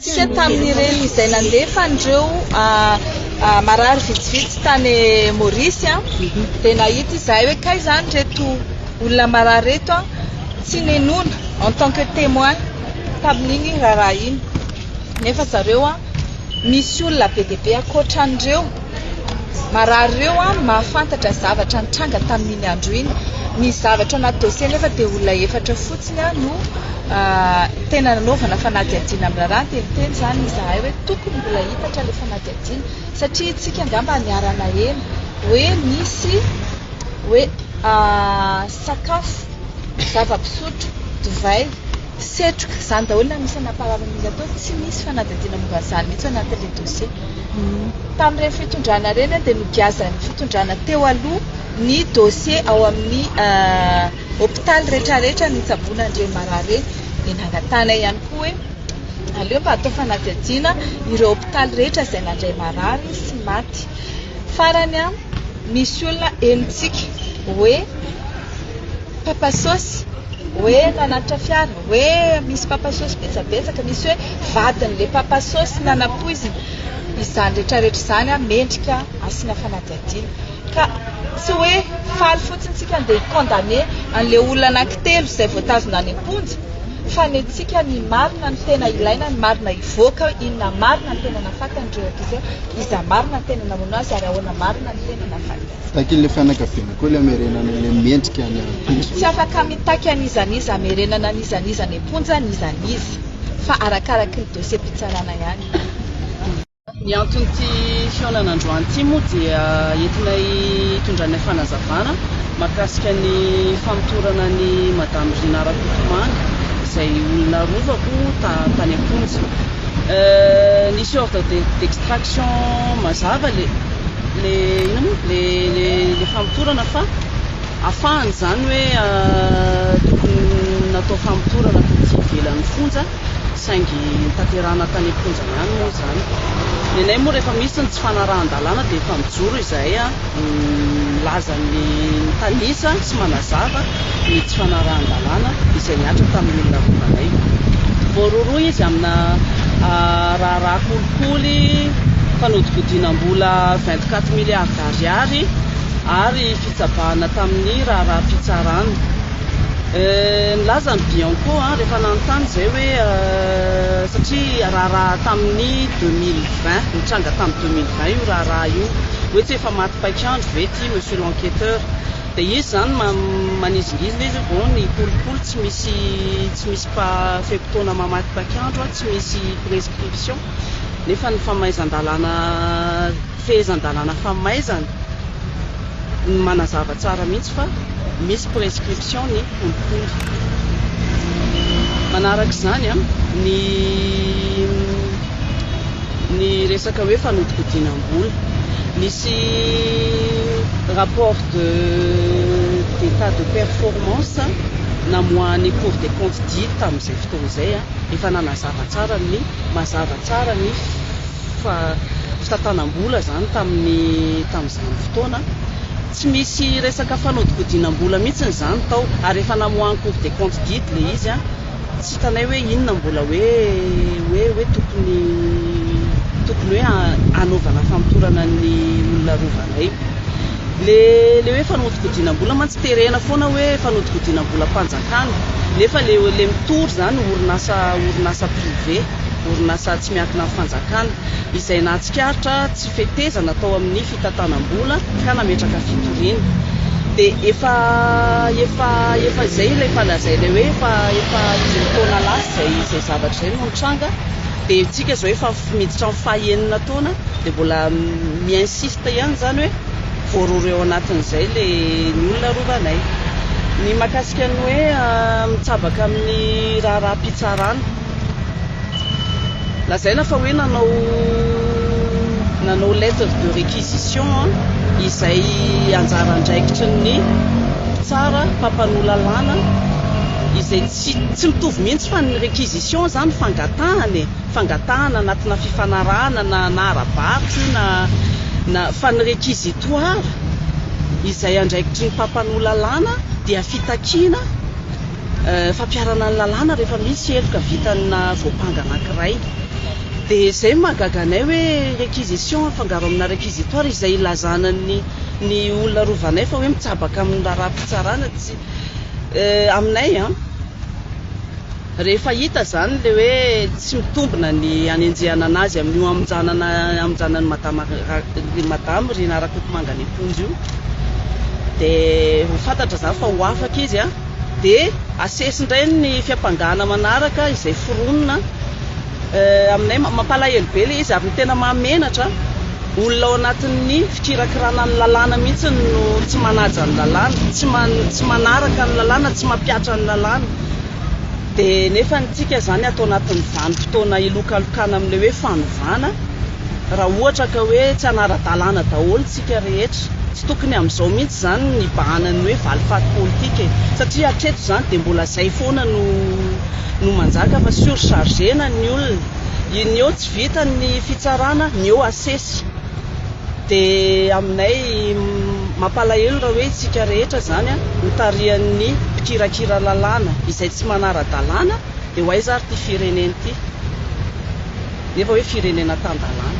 Tsika tamin'ireny izay nandefa an'ireo marary vitsivitsy tany Maurice dia nahita izahay hoe kay izany ireto olona marary ireto tsy ninoana en tant que témoin tamin'iny raharaha iny nefa zareo misy olona be dia be ankoatra an'ireo. Marary ireo an, mahafantatra zavatra nitranga tamin'iny andro iny. Ny zavatra ao anaty dossier nefa dia olona efatra fotsiny an no tena nanaovana fanadihadiana amin'ny raharaha. Niteniteny izany izahay hoe tokony mbola hitatra ilay fanadihadiana satria isika angamba niara-naheno hoe nisy hoe sakafo, zava-pisotro, divay. Setroka, izany daholo ny anisany nampahalalan'izy atao, tsy nisy fanadihadiana momba an'izany mihitsy ao anatin'ilay dossier. Tamin'ireny fitondrana ireny dia nogiazan'ny fitondrana teo aloha ny dossier ao amin'ny hopitaly rehetrarehetra nitsaboana an'ireny marary ireny, dia nangatahinay ihany koa hoe aleo mba atao fanadihadiana ireo hopitaly rehetra izay nandray marary sy maty. Farany, misy olona henontsika hoe. papa sôsy hoe nanatitra fiara hoe misy papa sôsy betsabetsaka misy hoe vadin'le papa sôsy nanapoizina izany rehetrarehetra izany a mendrika asina fanadihadiana ka tsy hoe faly fotsiny tsika andeha condamné an'le olona anankitelo izay voatazona any am-ponja fa ny antsika ny marina ny tena ilaina ny marina hivoaka inona marina ny tena nafakan'ireo ankizy iza marina ny tena namono azy ary ahoana marina ny tena nafakan'ireo Takin' ilay fianakaviana koa ilay hamerenana ilay mendrika ny ampitso. Tsy afaka mitaky an'iza n'iza hamerenana an'iza n'iza any am-ponja n'iza n'iza, fa arakaraky ny dosiam-pitsarana ihany. Ny anton'ity fihaonana androany ity moa dia entinay hitondranay fanazavana mahakasika ny famotorana an'i Madame Rina Rakotomanga izay olona rovako tany am-ponja. Nisy ordre d'extraction mazava le. le inona moa le le le famotorana fa afahany izany hoe tokony natao famotorana taty ivelan'ny fonja saingy tanterahana tany am-ponja ihany moa izany. Ny anay moa rehefa misy ny tsy fanarahan-dalàna dia efa mijoro izahay milaza ny mitanisa sy manazava. ny tsy fanarahan-dalàna izay nihatra tamin'ny olona rovanaina. Voarohirohy izy amina raharaha kolikoly fanodikodinam-bola vingt quatre milliards d'ariary ary fitsabahana tamin'ny raharaham-pitsarana. Nilaza ny Bianco rehefa nanontany izay hoe satria raharaha tamin'ny deux mille vingt, nitranga tamin'ny deux mille vingt io raharaha io, hoe tsy efa maty paik'andro ve ity monsieur l'enquêteur? Dia izy izany manizingizy ilay izy vao ny kolikoly tsy misy tsy misy fe-potoana mamatipaky andro, tsy misy prescription nefa ny famaizan-dalàna fehezan-dalàna famaizana no manazava tsara mihitsy fa misy prescription ny kolikoly. Manaraka izany ny. ny resaka hoe fanodikodinam-bola. Nisy rapport de d'état de performance namoahan'ny Cour des comptes dia tamin'izay fotoana izay, efa nanazava tsara ny mazava tsara ny fitantanam-bola izany tamin'ny tamin'izany fotoana. Tsy misy resaka fanodikodinam-bola mihitsy izany tao ary efa namoahan'ny Cour des comptes didy ilay izy. Tsy hitanay hoe inona mbola hoe hoe hoe tokony tokony hoe hanaovana famotorana ny olona rovanay. Le le hoe fanodikodinam-bola mantsy terena foana hoe fanodikodinam-bolam-panjakana nefa le le mitory izany orinasa orinasa privé, orinasa tsy miankina amin'ny fanjakana izay nahatsikaritra fetezana tao amin'ny fitantanam-bola ka nametraka fitoriana dia efa efa efa izay ilay efa lazainay hoe efa efa indimy taona lasa izay izay zavatra izay no nitranga dia antsika izao efa miditra amin'ny faha enina taona dia mbola mi insiste ihany izany hoe voarohirohy ao anatin'izay ilay ny olona rovanay ny mahakasika ny hoe mitsabaka amin'ny raharaham-pitsarana Lazaina fa hoe nanao nanao lettre de réquisition izay anjara andraikitry ny mpitsara mpampanoa lalàna izay tsy tsy mitovy mihitsy fa ny réquisition izany fangatahana e, fangatahana anatina fifanarahana na na ara-barotra io na na fa ny réquisitoire izay andraikitry ny mpampanoa lalàna dia fitakiana. fampiharana ny lalàna rehefa misy heloka vitanina voampanga anankiray dia izay no mahagaga anay hoe réquisition afangaro amina réquisitoire izay ilazana ny ny olona arovanay fa hoe mitsabaka amin'ny raharaham-pitsarana tsy aminay an rehefa hita izany ilay hoe tsy mitombina ny hanenjehana anazy amin'ny hamonjanana hamonjana ny madama ny madama Rinarakotomanga any am-ponja io dia ho fantatra izany fa ho afaka izy an Dia asesy indray ny fiampangana manaraka izay foronina aminay. Mampalahelo be ilay izy ary ny tena mahamenatra, olona ao anatin'ny fikirakirana ny lalàna mihitsy no tsy manaja ny lalàna, tsy manaraka ny lalàna, tsy mampihatra ny lalàna. Dia nefa ny antsika izany ato anatin'ny vanim-potoana hilokalokana amin'ilay hoe fanovana. Raha ohatra ka hoe tsy hanara-dalàna daholo isika rehetra. Tsy tokony amin'izao mihitsy izany no hibahana ny hoe valifaty politika e! Satria hatreto izany dia mbola izay foana no no manjaka fa surchargena ny olona. Ny eo tsy vita ny fitsarana, ny eo asesy. Dia aminay mampalahelo raha hoe isika rehetra izany an, notarihan'ny mpikirakira lalàna izay tsy manara-dalàna dia ho aiza ary ity firenena ity? Nefa hoe firenena tan-dalàna.